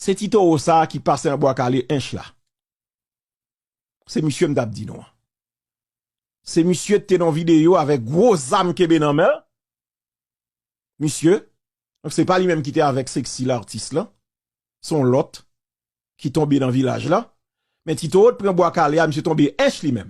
Se ti towo sa ki pase an bwa kale ench la. Se misye m tap di nou an. Se misye te nan video avek gwo zam kenbe nan men. Misye, se pa li menm ki te avek sexy l'artiste lan. Son lot ki tonbe nan vilaj la. Men ti towo te pran bwa kale a misye tonbe ench li menm.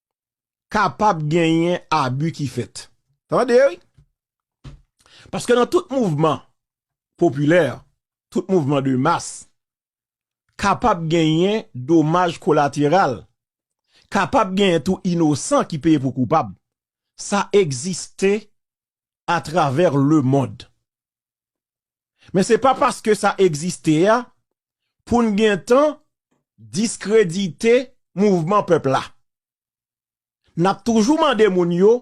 kapab genyen abi ki fèt. Tande wi! Paske nan tout mouvman popilè, tout mouvman de mas, kapab genyen domaj kolateral, kapab genyen tou inosan ki peye pou koupab. Sa egziste atravè lemond. Men se pa paske sa egziste a pou n gen tan diskredite mouvman pèp la. N ap toujou mande moun yo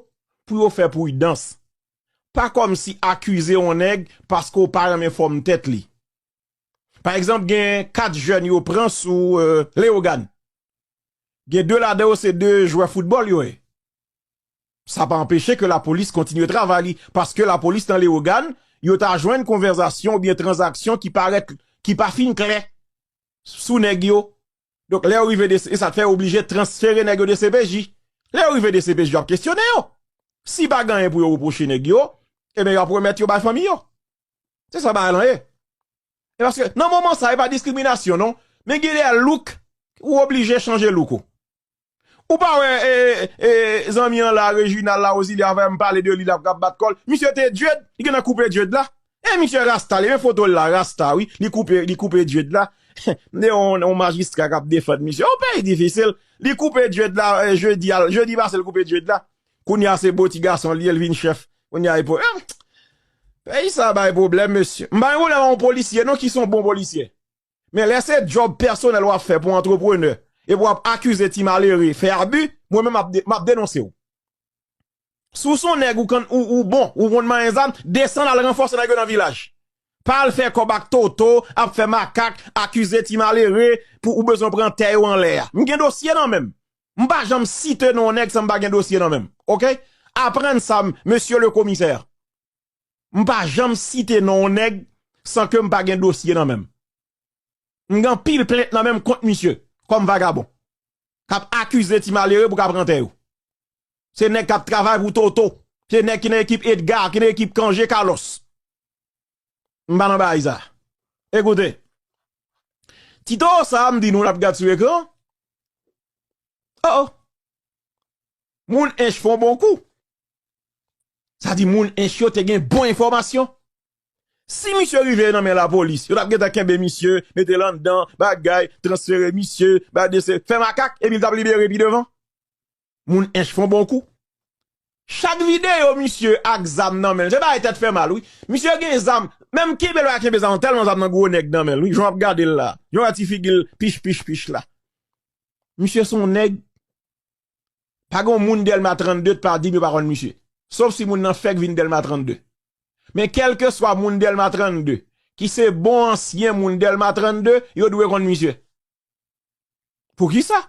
pou yo fè pridans. Pa kòmsi akize yon nèg paske w pa renmen fòm tèt li. Pa egzanp gen 4 jèn yo pran sou Leyogàn. Gen 2 ladan yo se 2 jwè foutbòl yo ye. Sa pa anpeche ke lapolis kontinye travay li, paske lapolis nan Lewogàn, yo ta jwenn konvèzasyon oubyen tranzaksyon ki parèt, ki pa fin klè sou nèg yo. Donk, lè yo rive DCPJ, e sa fè yo oblije transfere nèg yo DCPJ. Lè yo rive DCPJ, yo ap kesyone yo. Si pa gen anyen pou yo repwoche nèg yo, eben yo ap remèt yo bay fanmi yo. Se sa bagay lan ye. E paske, nan moman sa, e pa diskriminasyon non, men gen lè look, ou oblije chanje look ou. Ou pa wè zanmi an la Reginald la Rosilien a fèm pale de li la kap bat kòl misye te dread li gentan koupe dread la e misye rasta li men fotol la rasta wi li koupe li koupe dread la mnde yon majistra kap defann misye yon peyi difisil li koupe dread la jedi a jedi pasel koupe dread la kounya se bo ti gason li ye li vin chèf kounya epo em peyi sa bay pwoblèm mesye m pa gen pwoblèm ak yon polisye non ki son bon polisye. Men lè se djòb pèsonèl wap fè pou antreprenè epi wap akize ti malere fè abi mwen menm map denonsew. Si w son nèg ou bon ou konn manyen zam desann al ranfòse nèg yo nan vilaj. Pa al fè kòb ak Toto ap fè makak akize ti malere pou ou bezwen pran tè yo anlè a. M gen dosye nan menm. M pa janm site non nèg san m pa gen dosye nan menm ok. Aprann sa mesye le komisè. m pa janm site non yon nèg san ke m pa gen dosye nan menm. M gen anpil plent nan menm kont misye kòm vagabon k ap akize ti malere pou k ap pran tè yo. Se nèg k ap travay pou Toto, se nèg ki nan ekip Edgar, ki nan ekip Cangé Carlos. M pa nan baay sa. Ekoute, ti toro sa a m di nou l ap gad sou ekran, oh oh, moun Ench fè yon bon kou. Sa di moun ench yo te gen bon enfòmasyon. Si misye rive nan men lapolis, yo t ap gentan kenbe misye, mete l anndan, bagay, transfere misye, bay dese, fè makak epi l t ap libere pi devan. Moun ench fon bon kou. Chak videyo misye ak zam nan men l, se bagay tèt fè mal wi. Misye gen zam, menm kenbe l pa kenbe zam, tèlman zam nan gwo nèg nan men l wi, jan w ap gade l la, jan w wè ti figi l pich pich pich la. Misye s on nèg Pa gen yon moun Dèlma 32 t pa di m yo pa konn misye. Sof si moun nan fèk vin Dèlma 32. Men kèlkeswa moun Dèlma 32 ki se bon ansyen moun Dèlma 32, yo dwe konn misye. Poukisa?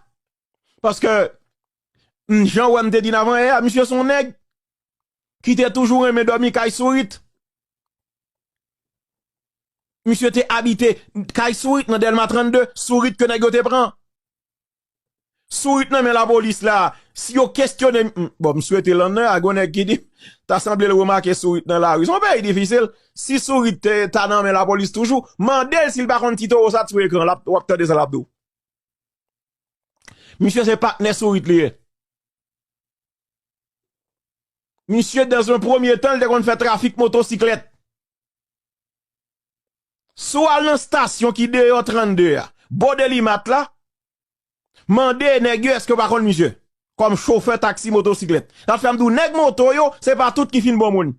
Paske m jan wè m te di n avan yè a, misye son nèg ki te toujou renmen dòmi kay sourit. Misye te abite kay sourit nan Dèlma 32, sourit ke nèg yo te pran. Sourit nan men lapolis la, si yo kestyone m, bon m swete lan nan, a gon nèg ki di, ta sanble l remake sourit nan lari. Se yon peyi difisil, si sourit te ta nan men lapolis toujou, mande l si l pa konn ti towo sa t sou ekran, w ap tande sa l ap di w. Misye se patnè sourit li ye. Misye dan un premye tan l te konn fè trafik motosiklèt. Si w al nan stasyon ki deyò 32 a, bò Delimat la, mande nèg yo èske yo pa konn misye kòm chofè taksi motosiklèt. Sa fè m di w nèg moto yo, se pa tout ki fin bon moun.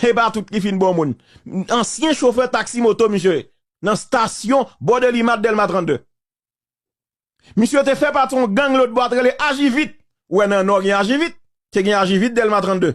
Se pa tout ki fin bon moun. Ansyen chofè taksi moto misye ye nan stasyon bò Delimat, Dèlma 32. Misye te fè pati yon gang lòtbò a te rele Ajivit. Ou wè nan Nò gen Ajivit, te gen Ajivit Dèlma 32.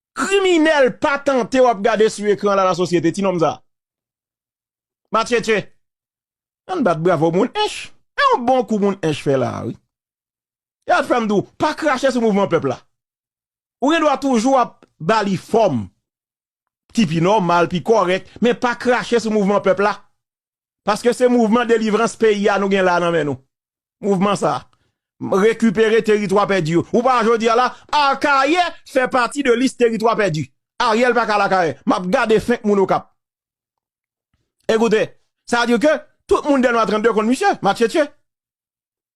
Kriminel patante wap gade sou ekran la la sosyete ti nonm sa. Matchetche. Ann bat bravo moun ench. E yon bon kou moun ench fè la wi. E at fèm dou pa krache sou mouvman pèp la. Ou gen dwa toujou ap ba li fòm ki pi nòmal pi kòrèk men pa krache sou mouvman pèp la. Paske se mouvman delivrans peyi a nou gen la nan men nou. Mouvman sa. Rekipere teritwa pèdi yo. Ou pa wè jodi a la, Akayè fè pati de lis teritwa pèdi. Ariel pa ka al Akayè. M ap gade fenk moun Okap. Ekoute, sa vle di ke tout moun Dèlma 32 konn misye, matchetche.